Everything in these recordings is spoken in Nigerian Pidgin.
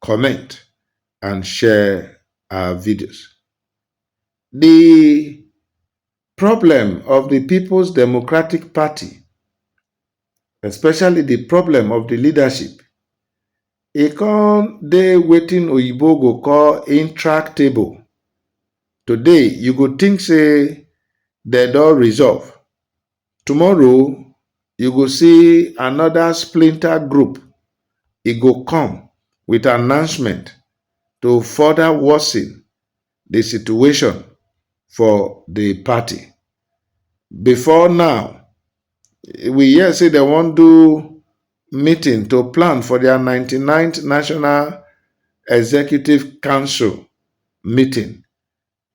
comment and share our videos. The problem of the People's Democratic Party, especially the problem of the leadership, e con dey wetin oyibo go call intractable. Today, you go think say dem don resolve, Tomorrow you go see another splinter group, e go come with announcement to further worsen the situation for the party. Before now, we hear say dem wan do meeting to plan for their 99th National Executive Council meeting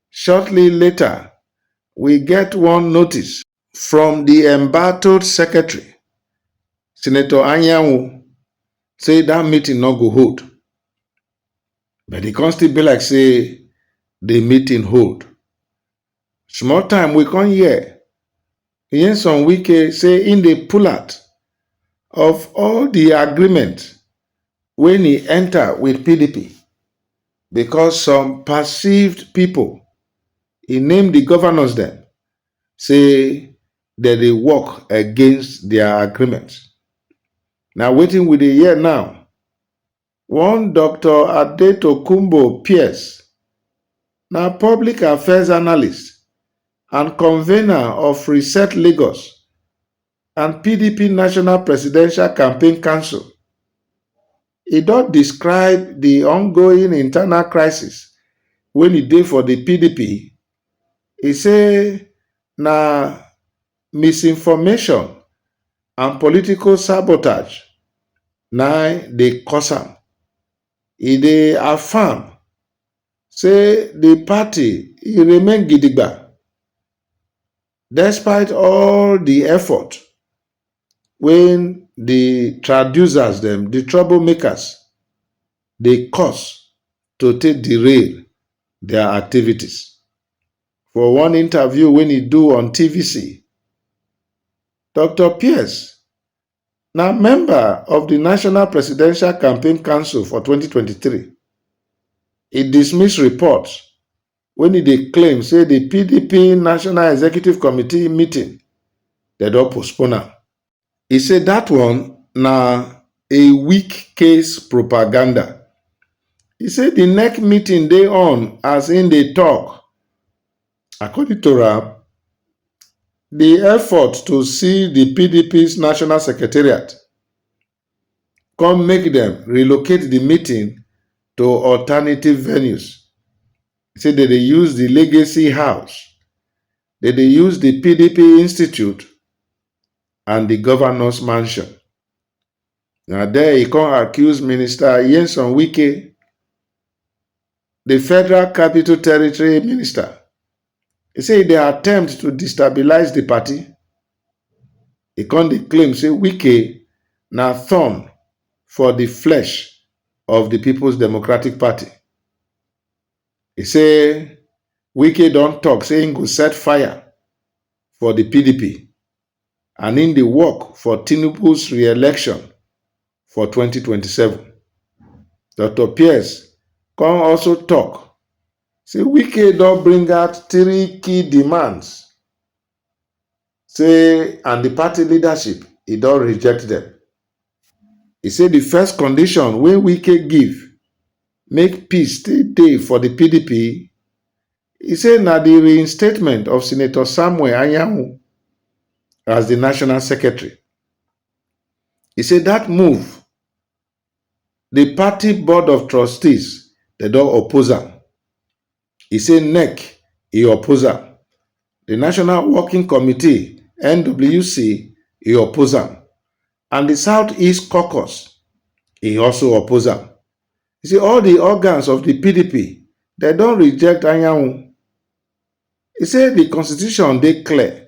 Shortly later, we get one notice from di embattled secretary, Senator Anyanwu, say dat meeting no go hold. But e come still be like say di meeting hold. Small time we come hear Nyesom Wike say im dey pull out of all di agreement wey e enta wit pdp because some perceived pipo, e name di govnors dem, say dem dey work against dia agreement. Na wetin we dey hear now One Doctor Adetokunbo Pierce na public affairs analyst and convener of Reset Lagos and PDP National Presidential Campaign Council. E don describe di ongoing internal crisis wey e dey for di PDP, e say na. misinformation and political sabotage na im dey cause am. E dey affirm say di party e remain gidigba despite all di effort wey di traducers dem, di trouble makers dey cause to take derail dia activities. For one interview wey e do on TVC, Doctor Pierce na member of di National Presidential Campaign Council for twenty twenty three, e dismiss reports wey e dey claim say di pdp National Executive Committee meeting dem don postpone am. e say dat one na a weak case propaganda e say di nec meeting dey on as im dey tok according to am di effort to see di pdp national secretariat come make dem relocate di meeting to alternative venues e say dem dey use di legacy house dem dey use di pdp institute and di governors mansion na there e come accuse minister nyesom wike di federal capital territory minister e say e dey attempt to destabilise di party e come dey claim say wike na thorn for di flesh of di peoples democratic party He say Wike don talk say im go set fire for the PDP and im dey work for Tinubu's re-election for 2027. Doctor Pierce come also talk say Wike don bring out three key demands say and di party leadership e don reject dem. E say di first condition wey Wike give make peace still dey for di pdp, e say na di reinstatement of Senator Samuel Anyanwu as di national secretary. E say dat move di party board of trustees dem don oppose am. e say nec e oppose am di national working committee nwc e oppose am and di southeast caucus e also oppose am e say all di organs of di pdp dem don reject anyanwu e say di constitution dey clear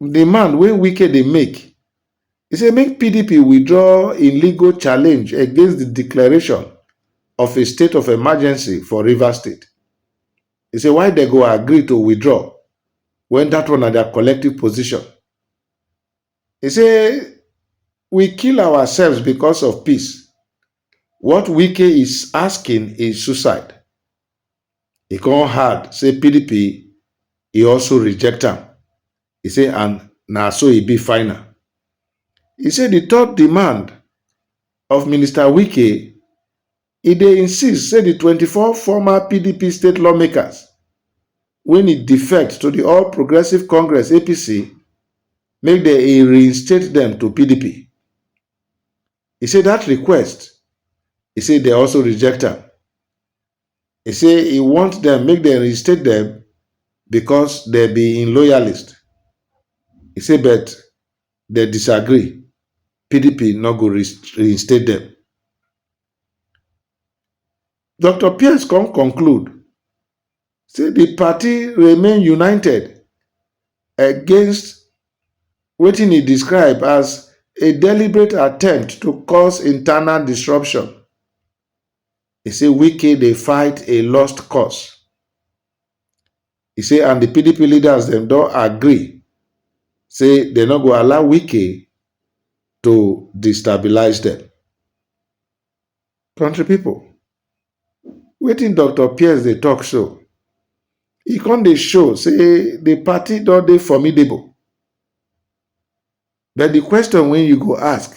demand wey Wike dey make, e say make pdp withdraw im legal challenge against di declaration of a state of emergency for Rivers State. E say why dem go agree to withdraw wen dat one na dia collective position. E say we kill ourselves because of peace, what Wike is asking is suicide. E come add say pdp e also reject am, e say and na so e be final. E say di third demand of Minister Wike, e dey insist say di twenty four former pdp state lawmakers wen e defect to di All Progressives Congress, APC, make dem e reinstate dem to pdp. E say dat request, e say dem also reject am. He say he want dem make dem reinstate dem because dem be im loyalist. He say but dem disagree, pdp no go reinstate dem. Doctor Pierce come conclude say di party remain united against wetin e describe as a deliberate attempt to cause internal disruption. He say Wike dey fight a lost cause. He say and the PDP leaders dem don agree say they no go allow Wike to destabilize them. Country people, wetin Doctor Pierce dey talk so, e come dey show say the party don dey formidable. But the question wey you go ask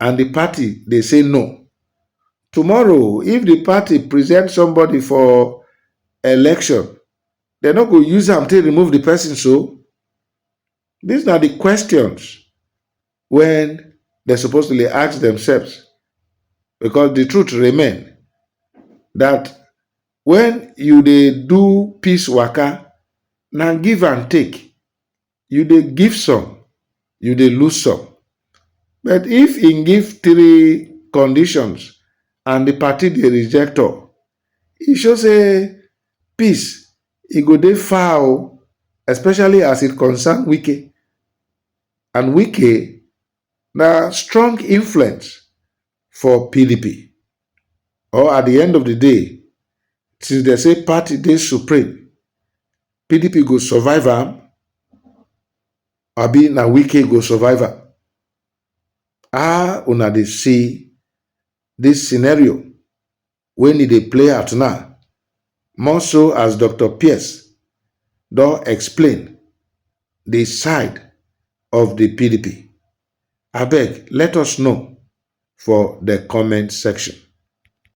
and di party dey say no tomorrow if di party present somebody for election dem no go use am take remove di person so dis na di questions wey dem suppose to dey ask themselves because di truth remain dat when you dey do peace waka na give and take you dey give some you dey lose some but if im give three conditions and di party dey reject all e show say peace e go dey far o especially as it concern wike and wike na strong influence for pdp or at di end of di day since dem say party dey supreme pdp go survive am abi na wike go survive am how una dey see dis scenario wen e dey play out now more so as dr pierce don explain di side of di pdp abeg let us know for di comment section